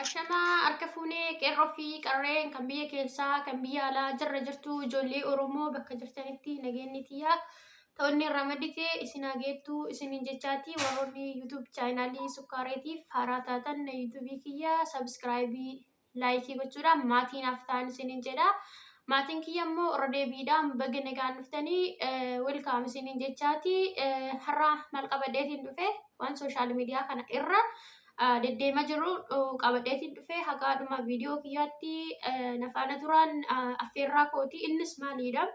Ashamaa harka fuunee qeerroo fi qarreen kan biyya keessaa kan biyya alaa jirra jirtu ijoollee Oromoo bakka jirtanitti nageenyi tiyyaa ta'onni irraa maddite isin haa geettu isiniin jechaati warroonni YouTube chaayinaalii sukkaareetiif haaraa taatan na YouTube kiyya sabiskiraayibii laayikii gochuudhaan maatii naaf ta'an isiniin jedha. Maatiin kiyya immoo irra deebiidhaan baga nagaan dhuftanii welkaam isiniin jechaati har'a maal qabadheetiin dhufe waan sooshaal miidiyaa kana irra deddeema jiru qabadheetiin dhufe hagaadhuma viidiyoo kiyyaatti nafaana turaan affeerraa kooti innis maaliidha.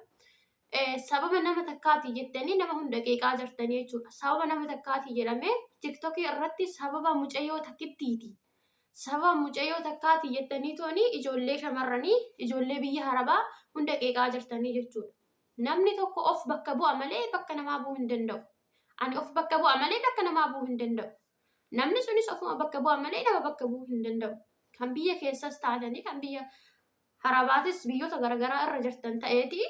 Sababa nama takkaati jettanii nama hunda qeeqaa jirtanii jechuudha. Sababa nama takkaati jedhamee tiktokii irratti sababa mucayyoo takkittiiti. Sababa mucayoo takkaati jettanii tooni ijoollee shamarranii, ijoollee biyya harabaa hunda qeeqaa jirtanii jechuudha. Namni tokko of bakka bu'a malee bakka namaa bu'uu hin danda'u. Ani of bakka bu'a malee bakka namaa bu'uu hin danda'u. Namni sunis ofuma bakka bu'a malee nama bakka bu'uu hin danda'u. Kan biyya keessas taatanii kan biyya harabaatis biyyoota garaagaraa irra jirtan ta'eeti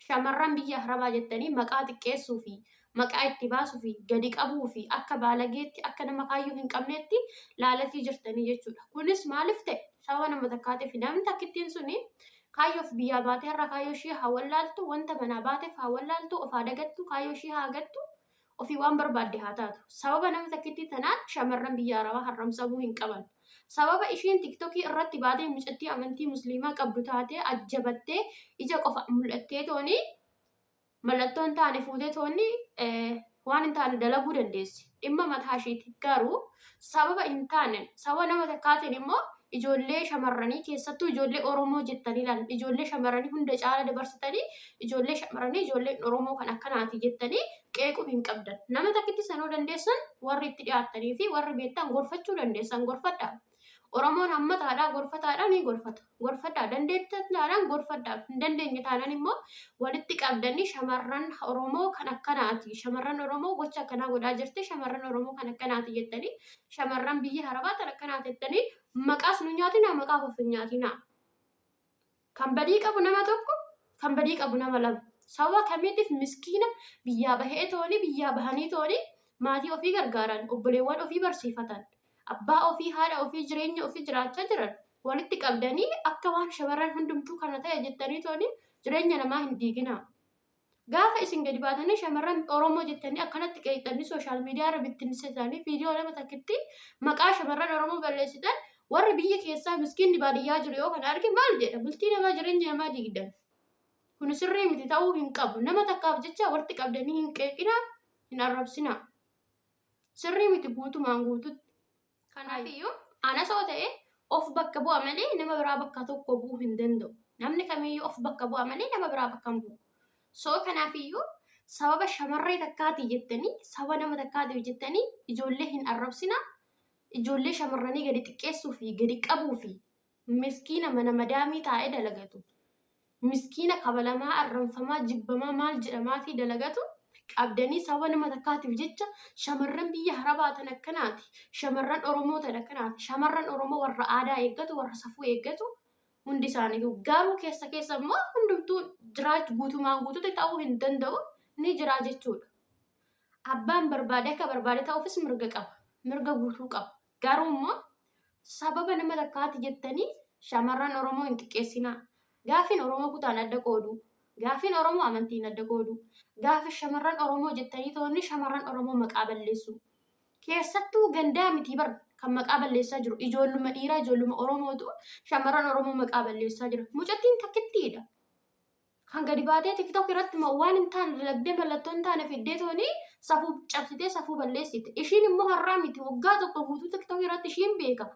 Shamarran biyya Arabaa jettanii maqaa xiqqeessuu fi maqaa itti baasuu fi gadi qabuu fi akka baalageetti akka nama kaayyoo hin qabneetti laalatii jirtanii jechuudha. Kunis maaliif ta'e? Sababa nama takkaatiif namni takkittiin suni kaayyoof biyyaa baatee har'a kaayyoo ishii haa wallaaltu, wanta manaa baateef haa wallaaltu, of haa dagattu, kaayyoo ishii haa gattu, Ofii waan barbaadde haa taatu. Sababa nama takkittii tanaan shamarran biyya Arabaa harramsamuu hin qaban. Sababa ishiin tiktokii irratti baatee mucattii amantii musliimaa qabdu taatee ajjabattee ija qofa mul'attee tooni mallattoo hin taane fuutee toonni waan hin taane dalaguu dandeessi. Dhimma mataa ishiiti. Garuu sababa hin taane sababa nama takkaatiin immoo ijoollee shamarranii keessattuu ijoollee Oromoo jettanii ilaalan ijoollee shamarranii hunda caala dabarsitanii ijoollee shamarranii ijoolleen Oromoo kan akkanaati jettanii qeequu hin qabdan. Nama takkitti sanuu dandeessan warri itti dhiyaattanii fi warri beektan gorfachuu dandeessan gorfadha. Oromoon hammataadhaa gorfataadhaa ni gorfata. gorfadhaa dandeettan taanaan gorfadhaa hin dandeenye taanaan immoo walitti qabdanii shamarran Oromoo kan akkanaati shamarran Oromoo gocha akkanaa godhaa jirti shamarran Oromoo kan akkanaati jettanii shamarran biyya harabaa tan akkanaati jettanii maqaas nu nyaatinaa maqaaf of hin nyaatinaa kan badii qabu nama tokko kan badii qabu nama lama sababa kamiitiif miskiina biyyaa bahee tooni biyyaa bahanii tooni maatii ofii gargaaran obboleewwan ofii barsiifatan abbaa ofii haadha ofii jireenya ofii jiraachaa jiran walitti qabdanii akka waan shamarran hundumtuu kana ta'e jettanii tooni jireenya namaa hin diiginaa. Gaafa isin gadi baatanii shamarran Oromoo jettanii akkanatti qeeqxanii sooshaal miidiyaa irra bittinsitanii viidiyoo lama takkitti maqaa shamarran Oromoo balleessitan warri biyya keessaa miskiinni baadiyyaa jiru yoo kana arge maal jedha bultii namaa jireenya namaa diigdan. Kun sirrii miti ta'uu hin qabu. Nama takkaaf jecha walitti qabdanii hin qeeqinaa hin arrabsinaa. Sirrii miti guutumaan guututti. Kanaafiyyuu anas yoo ta'e of bakka bu'a malee nama biraa bakka tokko bu'uu hin danda'u. Namni kamiyyuu of bakka bu'a malee nama biraa bakka hin bu'u. So kanaafiyyuu sababa shamarree takkaati jettanii sababa nama takkaatiif jettanii ijoollee hin arrabsina. Ijoollee shamarranii gadi xiqqeessuu fi gadi qabuu fi miskiina mana madaamii taa'ee dalagatu, miskiina kabalamaa, arranfamaa, jibbamaa, maal jedhamaafii dalagatu qabdanii sababa nama takkaatiif jecha shamarran biyya harabaa tan akkanaati, shamarran Oromoo tan akkanaati, shamarran Oromoo warra aadaa eeggatu, warra safuu eeggatu hundi isaaniitu. Garuu keessa keessa immoo hundumtuu jiraachu guutumaan guututti ta'uu hin danda'u ni jiraa jechuudha. Abbaan barbaade akka barbaade ta'uufis mirga qaba. Mirga guutuu qaba. Garuu immoo sababa nama takkaati jettanii shamarran Oromoo hin xiqqeessinaa. Gaaffiin Oromoo kutaan adda qoodu. Gaaffiin Oromoo amantiin adda qoodu. Gaaffi shamarran Oromoo jettanii toonni shamarran Oromoo maqaa balleessu. Keessattuu gandaa miti bar kan maqaa balleessaa jiru ijoolluma dhiiraa ijoolluma Oromootu shamarran Oromoo maqaa balleessaa jira. Mucattiin takkittiidha. kan gadi baatee tiktok irratti ma- waan hin taane dalagdee mallattoo hin taane fiddee tooni safuu cabsitee safuu balleessite ishiin immoo har'aa miti waggaa tokko guutuu tiktok irratti ishiin beeka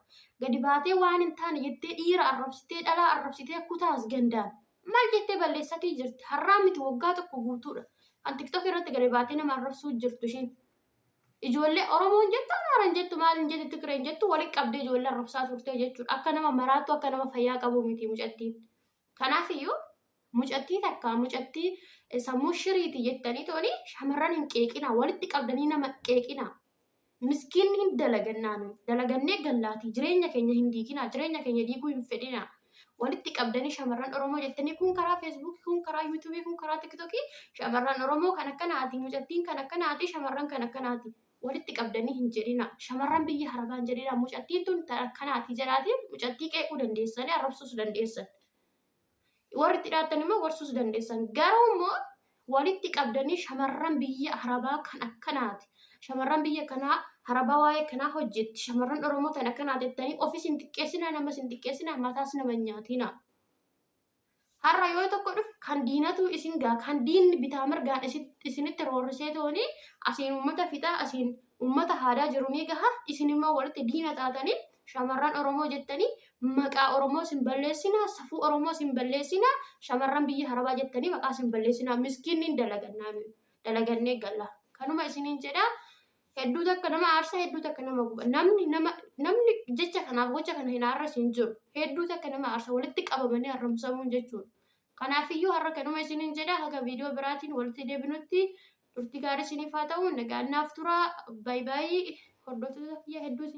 gadi baatee waan hin taane jettee dhiira arrabsitee dhalaa arrabsitee kutaas gandaan maal jettee balleessatii jirti har'aa miti waggaa tokko guutuudha kan tiktok irratti gadi baatee nama arrabsuu jirtu ishiin ijoollee oromoon jettu amaaran jettu maalin jettu tigreen jettu walitti qabdee ijoollee arrabsaa turte jechuudha akka nama maraattu akka nama fayyaa qabu miti mucattiin Kanaaf iyyuu mucattii takka mucattii sammuu shiriiti jettanii tooni shamarran hin qeeqinaa walitti qabdanii nama qeeqinaa. Miskiin hin dalagannaanu dalagannee gallaatii jireenya keenya hin diiginaa jireenya keenya diiguu hin fedhinaa. Walitti qabdanii shamarran Oromoo jettanii kun karaa feesbuukii kun karaa yuutuubii kun karaa tiktokii shamarran Oromoo kan akkanaati mucattiin kan akkanaati shamarran kan akkanaati. walitti qabdanii hin jedhina shamarran biyya harabaa hin jedhina mucattiin tun ta akkanaati jedhaati mucattii qeequu dandeessanii arrabsuus dandeessan warri itti dhaattan immoo gorsuus dandeessan garuu immoo walitti qabdanii shamarran biyya harabaa kan akkanaati shamarran biyya kanaa harabaa waa'ee kanaa hojjetti shamarran oromoo tan akkanaati jettanii ofis hin xiqqeessina namas hin xiqqeessina mataas nama hin nyaatina. Har'a yoo tokko dhufe kan diinatu isin gaa kan diinni bitaa mirgaan isinitti roorrisee tooni asiin uummata fixaa asiin uummata haadaa jiru ni gaha isin immoo walitti diina taatanii shamarran Oromoo jettanii maqaa Oromoo sin balleessinaa safuu Oromoo sin balleessinaa shamarran biyya harabaa jettanii maqaa sin balleessinaa miskiinniin dalagannaa dalagannee galla kanuma isiniin jedha Hedduu takka nama aarsa, hedduu takka nama guba. Namni nama namni jecha kanaaf gocha kana hin aarras hin jiru. Hedduu takka nama aarsa walitti qabamanii arrabsamuun jechuudha. Kanaafiyyuu har'a kanuma isiniin jedha haga viidiyoo biraatiin walitti deebinutti turtii gaarii isiniif haa ta'u. Nagaan naaf turaa. Baay'ee baay'ee hordoftoota kiyya hedduu isin